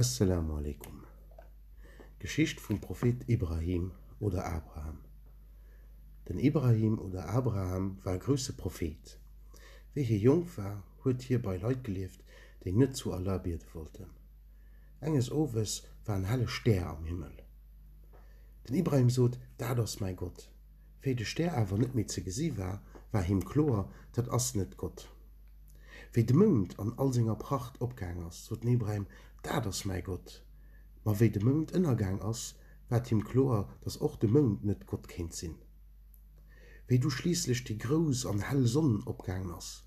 Asselamu alaikum. D'Geschicht vum Prophet Ibrahim oder Abraham Den Ibrahim oder Abraham war e grousse Prophet. Wéi hie jonk war, huet hie bei Leit gelieft, déi net zu Allah biede wollten. Enges Owes war en helle Stär am Himmel. Den Ibrahim sot, Dat ass mäi Gott. Wéi de Stär awer net méi ze gesi war, war him kloer, Dat ass net Gott. Wéi de Mound an all senger Pracht opgaang ass, sot den Ibrahim, Dat ass mäi Gott! Ma wéi de Mound ënnergaang ass, waert him kloer, dass och de Mound net Gott kéint sinn. Wéi du schliisslech déi grouss an hell Sonn opgaangen ass,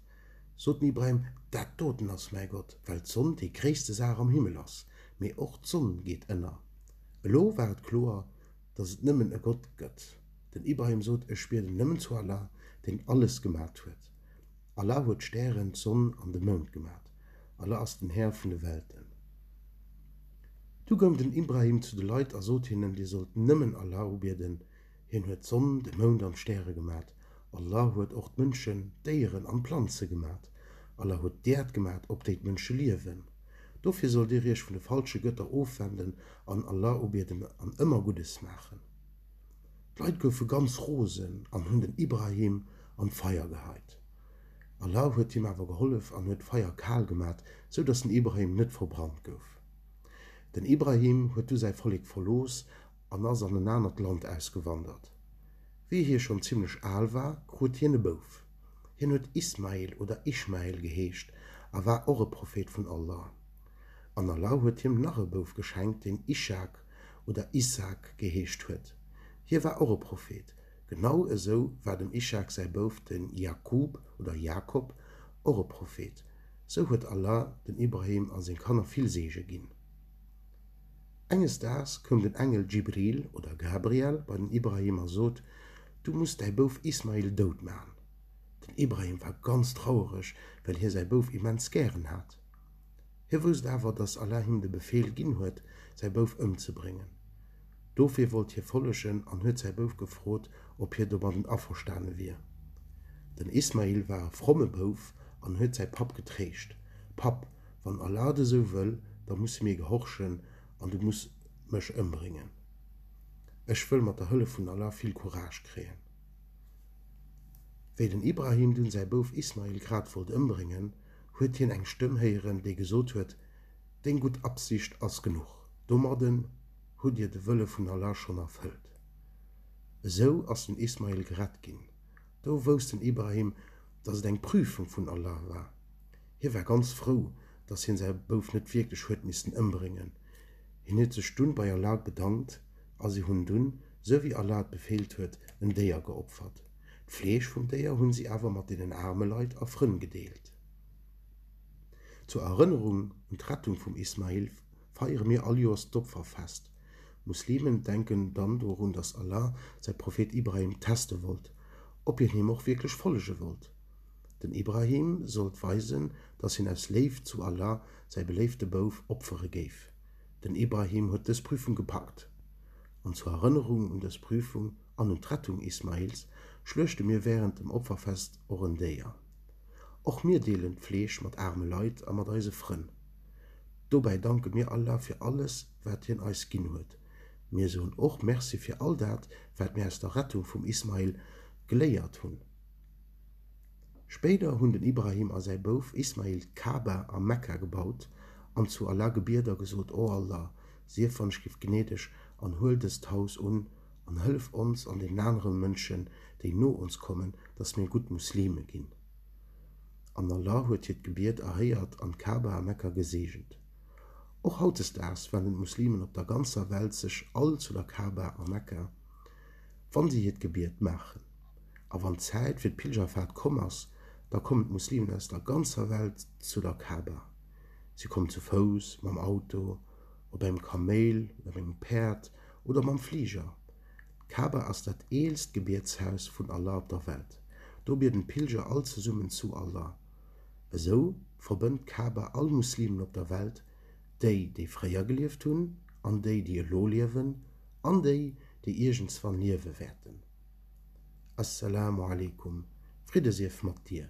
sot den Ibrahim, Dat doten ass mäi Gott! Well d'Sonn déi gréisste Saach am Himmel ass, mee och d'Sonn geet ënner. Elo war et kloer, dass et nëmmen e Gott gëtt. Den Ibrahim sot, Ech bieden nëmmen zu Allah, deen alles gemat huet. Allah huet d'Stären, d'Sonn an de Mound gemat. Allah ass den Här vun de Welten. Du goung den Ibrahim zu de Leit a sot hinnen, Dir sollt nëmmen Allah ubieden, Hien huet d'Sonn, de Mound an d'Stäre gemat. Allah huet och d'Mënschen, d'Déieren an d'Planze gemat. Allah huet d'Äerd gemat, op déi d'Mënsche liewen. Dofir sollt Dir Iech vun de falsche Gëtter ofwenden an Allah ubieden an ëmmer Guddes maachen. D'Leit goufe ganz rosen an hunn den Ibrahim an d'Feier geheit. Allah huet him awer gehollef an huet d'Feier kal gemat, sou dass den Ibrahim net verbrannt gouf. Den Ibrahim huet du säi Vollek verlooss an ass an en anert Land ausgewandert. Wéi hie schonn zimmlech al war, krut hien e Bouf. Hien huet Ismail oder Ishmael geheescht a war och e Prophet vun Allah. An Allah huet him nach e Bouf geschenkt, deen Ishak oder Issaak geheescht huet. Hie war och e Prophet, genau esou war dem Ishak säi Bouf de Jakub oder Jakob och e Prophet. Sou huet Allah dem Ibrahim a seng Kanner vill Seege ginn. Enges Daags koum den Engel Djibril oder Gabriel bei den Ibrahim a sot, Du muss däi Bouf Ismail dout maachen. Den Ibrahim war ganz trauereg, well hie säi Bouf immens gären hat. Hie wousst awer, datt Allah him de Befeel ginn huet, säi Bouf ëmzebréngen. Dofir wollt hie follegen an huet säi Bouf gefrot, ob hie domadden averstane wier. Den Ismail war e fromme Bouf an huet säi Papp getréischt, Papp, wann Allah et esou wëll, da musse mir gehorchen an du muss mech ëmbréngen. Ech wëll mat der Hëllef vun Allah vill Courage kréien. Wéi den Ibrahim dunn säi Bouf Ismail grad wollt ëmbréngen, huet hien eng Stëmm héieren, déi gesot huet, Deng gutt Absicht ass genuch, domadden hutt Dir de Wëlle vun Allah schonn erfëllt. Esou ass den Ismail gerett ginn. Do wousst den Ibrahim, dass et eng Prüfung vun Allah war. Hie war ganz frou, dass hien säi Bouf net wierklech huet missten ëmbréngen. Hien huet sech dunn bei Allah bedankt a si hunn dunn, sou wéi Allah et befeelt huet, en Déier geopfert. D'Fleesch vum Déier hunn si awer mat deenen aarme Leit a Frënn gedeelt. Zur Erënnerung un d'Rettung vum Ismail feiere mir all Joers d'Opferfest. Muslimen denken dann dorun, dass Allah säi Prophet Ibrahim teste wollt, ob hien him och wierklech follege wollt. Den Ibrahim sollt weisen, dass hien aus Léift zu Allah säi beléifte Bouf opfere géif. Den Ibrahim huet dës Prüfung gepackt. An zur Erënnerung un dës Prüfung, an un d'Rettung Ismails schluechte mir wärend dem Opferfest och en Déier. Och mir deelen d'Fleesch mat aarme Leit a mat eise Frënn. Dobäi danke mir Allah fir alles, wat Hien eis ginn huet. Mir soen och Merci fir all dat, wat mir aus der Rettung vum Ismail geléiert hunn. Spéider hunn den Ibrahim a säi Bouf Ismail d'Ka'ba a Mekka gebaut an zu Allah gebiet a gesot, O Allah, sief wann ech giff gnädeg an huel dëst Haus un an hëllef ons an deenen aneren Mënschen, déi no ons kommen, dass mir gutt Muslime ginn. An Allah huet hiert Gebiet erhéiert an d'Ka'ba a Mekka geseegent. Och hautdesdaags wenden d'Muslimen op der ganzer Welt sech all zu der Ka'ba a Mekka, wann si hiert Gebiet maachen. A wann d'Zäit fir d'Pilgerfaart komm ass, da kommen d'Muslimen aus der ganzer Welt zu der Ka'ba. Si kommen zu Fouss, mam Auto, op engem Kaméil, op engem Päerd, Oder mam Fliger. D'Kaaba ass dat eelst Gebietshaus vun Allah op der Welt. Do bieden d'Pilger all zesummen zu Allah. Esou verbënnt d'Kaaba all Muslimen op der Welt, déi, déi fréier gelieft hunn, an déi, déi elo liewen, an déi, déi iergendswann liewe wäerten. As-Salaamu Alaikum, Fridde sief mat dir!